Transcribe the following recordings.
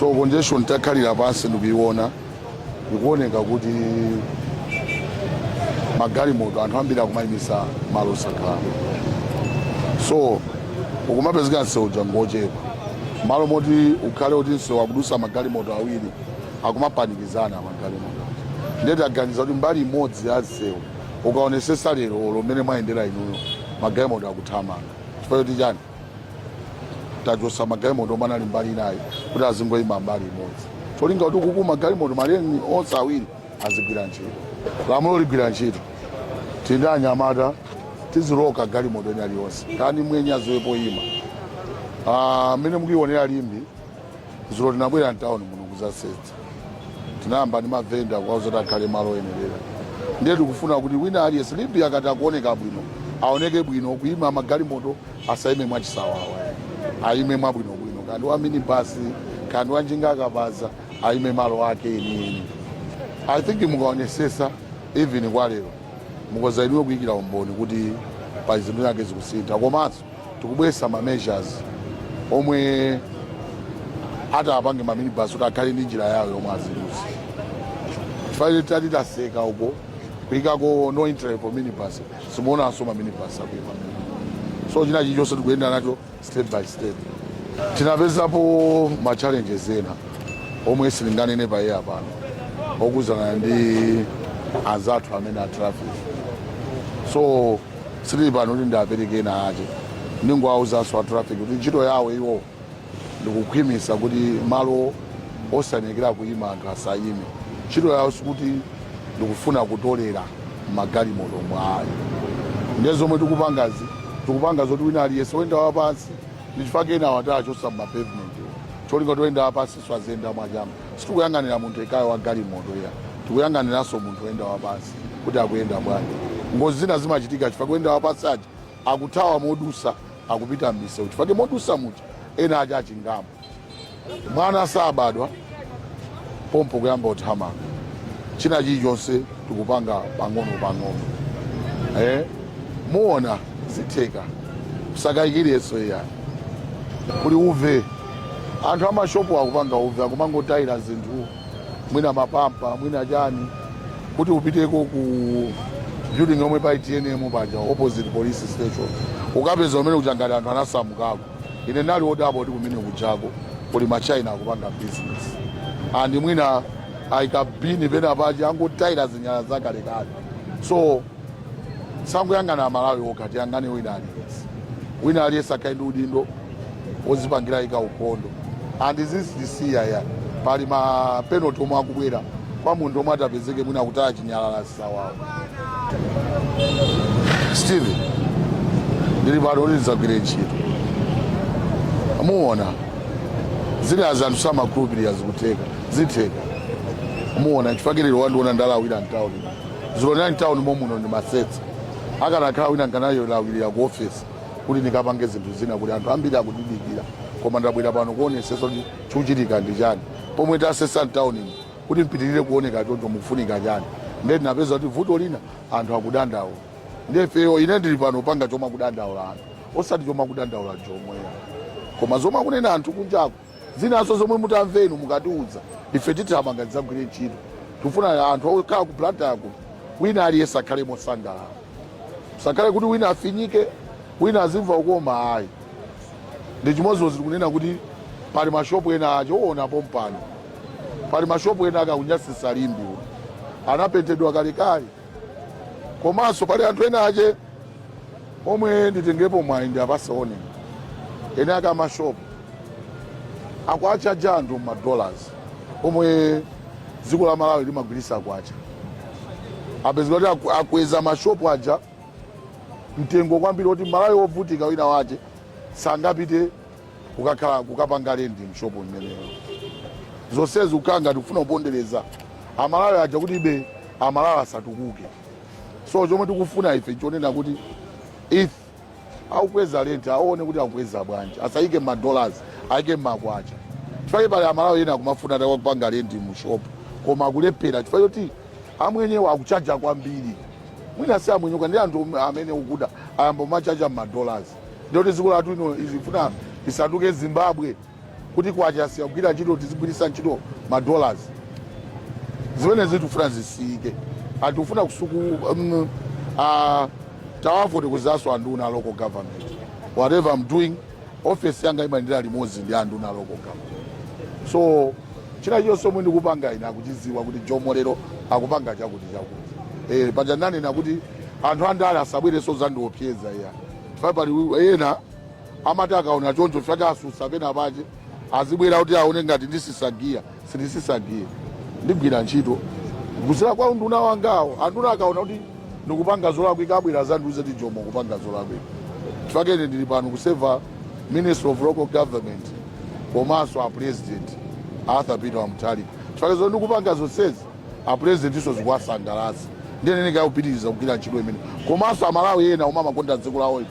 so congestion takhalira pansi ndikuiona ikuoneka kuti magalimoto anthu ambiri akumayimisa malo osakhala so ukumapezeka msewu wangochepa malo moti ukhale kuti msewu akudusa magalimoto awiri akumapanikizana magalimoto nde taganiza kuti mbali imodzi ya msewu ukaonesesa lero lomwe mmene mwayendera inuyo magalimoto akuthamanga chifukwa choti chani tachotsa magalimoto omwe anali mbali inayi kuti azingoyima mbali imodzi cholinga kuti kuti magalimoto ma lane onse awiri azigwira ntchito lamulo ligwira ntchito tili ndi anyamata tiziloka galimoto ina iliyonse kaya ndi mwenye aziwe poyima a mmene mukuionera Limbe dzulo tinabwera mtawuni muno kuzasesa tinayamba ndi mavenda kuwauza kuti akhale malo oyenerera ndiye tikufuna kuti wina aliyense Limbe akati akuoneka bwino aoneke bwino kuima magalimoto asaime mwachisawawa aime mwabwinobwino kaya ndi wa minibasi kaya ndi wa njinga akabaza aime malo ake enieni i think mukaonesesa even kwa lero mukhoza inuyo kuyikira umboni kuti pa zinthu zinazake zikusintha komanso tikubweretsa ma measures omwe ati apange ma minibus kuti akhale ndi njira yawo yomwe azidusa chifukwa titati taseka uko kuikako no entry for minibus simuonanso ma minibus akuima so china chilichonse tikuyenda nacho step by step tinapezapo ma challenges ena omwe sindinganene pa air pano okhuzana ndi anzathu amene a traffic so sitili pano kuti ndiapereke ena ake ndingoawuzanso a traffic kuti ntchito yawo iwo ndikukhwimitsa kuti malo osayenekera kuyima anthu asayime ntchito yawo sikuti ndikufuna kutolera magalimoto ayi ndiye zomwe tikupangazi tikupanga zoti wina aliyense oyenda wapansi ndichifake enawa tawachosa mmapavement cholinga choti oyenda wapansinso aziyenda mwa chani Sitikuyang'anira munthu yekhayo wa galimoto iyayi, tikuyang'aniranso munthu oyenda wapansi kuti akuyenda bwanji. Ngozi zina zimachitika chifukwa oyenda wapansi aja akuthawa modusa akupita mmisewu chifukwa chake modusa muja ena ake atchingamo. Mwana sabadwa pompo kuyamba uthamanga. China chilichonse tikupanga pang'ono pang'ono. Eh? Muona zitheka. Osakayikiranso iyayi. Kuli uve. anthu amashopu akupanga uve akumangotayira zinthu mwina mapampa mwina chani kuti upiteko ku building yomwe pa itnm paja opposite police station ukapeza kumene kuja ngati anthu anasamukako ine ndali odabwa kuti kumene kujako kuli ma China akupanga business and mwina aika bini pena paja angotayira zinyala zakalekale so sakuyang'ana amalawi okha tiyang'ane wina aliyense wina aliyense akhale ndi udindo wozipangira ika ukhondo and zizisiya ya pali ma penalty omwe akubwera kwa munthu omwe atapezeke mwina kuti achinyalala sawawo steve ndili pano kuti ndidzagwire ntchito muona zimene anzathu samakhulupirira zikutheka zitheka muona chifukwa lero wandiona ndalawira mtawuni zilonera mtauni momuno ndimasesa akanakhala wina nkanayolawirira ku ofesi kuti ndikapange zinthu zina kuti anthu ambiri akudidikira koma ndabwera pano kuonesesa kuti chikuchitika ndi chani pomwe tasesa mtaunimo kuti mpitirire kuoneka choncho mukufunika chani ndiye tinapeza kuti vuto lina anthu akudandaula ndiye ifeyo ine ndili pano panga chomwe akudandaula anthu osati chomwe akudandaula jomoyo koma zomwe akunena anthu kunjako Zinaso zomwe mutamve inu mukatiudza ife tithamanga tidzagwire ntchito. Tikufuna anthu okhala ku Blantyre kuno wina aliyense akhale mosangalala. Osakhale kuti wina afinyike, wina azimva ukoma ayi. Ndi chimodzimodzi tikunena kuti pali mashopu ena aja uona pompano. Pali mashopu ena aka akunyasisa Limbe muno. Anapentedwa kalekale. Komanso pali anthu ena ache omwe nditengepo mwayi ndi apaseone eni ake amashopu akuwachaja anthu mmadollars omwe dziko la malawi limagwiritsa makwacha apezeka kuti aku- akweza mashopu aja mtengo kwambiri kuti mmalawi wovutika wina wache sangapite kukakhala kukapanga lendi mshopu mmeneyo zonsezi ukanga tikufuna kupondereza amalawi aja kuti ibe amalawi asatukuke so chomwe tikufuna ife chonena kuti if akukweza lenti aone kuti akukweza bwanji asayike mmadollars ayike mmakwacha chifukwa pali amalawi ena akumafuna tawa kupanga lenti mu shop koma akulephera chifukwa choti amwenyewo akuchaja kwambiri mwina si amwenyewo ndi anthu omwe amene akuda ayamba kumachaja mmadollars ndiyoti dziko lathu ino sitifuna isanduke zimbabwe kuti kwacha asiya kugwira ntchito tizigwiritsa ntchito ma dollars zimenezi tikufuna zisiyike atikufuna kusuku um, uh, tawafoti kuzaso anduna local government whatever i'm doing office yanga imayendera limodzi ndi anduna local government so china chonse omwe ndikupanga ine akuchidziwa kuti jomo lero akupanga chakuti chakuti eh, paja nanena kuti anthu andale asabwereso zandiopseza iya pali ena amati akaona choncho chifukwa cha otsutsa pena pache azibwera kuti aone ngati ndizisiya sindizisiya ndigwira ntchito kudzera kwa nduna wangawo anduna akaona kuti ndikupanga zolakwika abwera adzandiuze kuti jomo ukupanga zolakwika chifukwa ine ndili pano kuseva minister of local government komanso a president arthur peter mutharika chifukwa zomwe ndikupanga zonsezi a president iwo zikuwasangalatsa ndiye nenekayo kupitiriza kugwira ntchito imene komanso amalawi ena omwe amakonda dziko lawo ife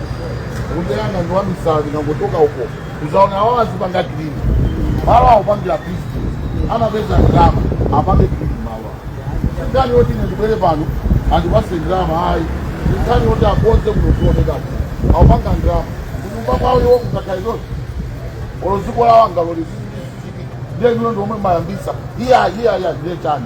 Unyanga ndi wamisala mungotuluka uko uzaona awo akupanga green malo akupangira business amapeza ndalama apange green malo ndiye woti ine ndibwere pano andipatse ndalama ayi ndiye woti akonze kuno kuoneka akupanga ndalama kunyumba kwawo iwo kukakhala izozi olo dziko lawo angalole izi ndiye inuyo ndi omwe mayambitsa iya iya iya ndiye chani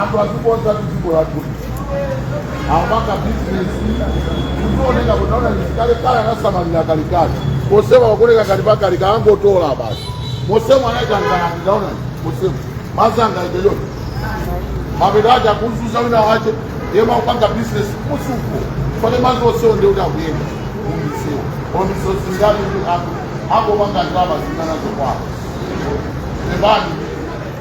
anthu azikonza dziko lathuli akupanga bizinesi ndikuoneka kuti naona kalekale anasamalira kalekale mosema wakuoneka ngati pakalika angotola basi mosema anaitanganani ndaona mosema anzanga ibeyoyo mapeto aja kunzuza wina wache yemwe akupanga bizinesi musuko fane mazi osewo ndi kuti akuyenda mumsewu mumsewu zingati kuti anthu angopanga ndalama zingana zokwawo lebani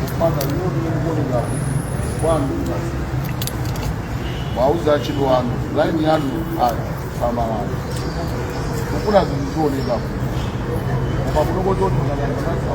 kupanda nyoni yokuoneka kwanu basi mwawauza achidwi wanu laini yanu ayi samalani kufuna zinthu zioneka koma kunokochoti unayanganasa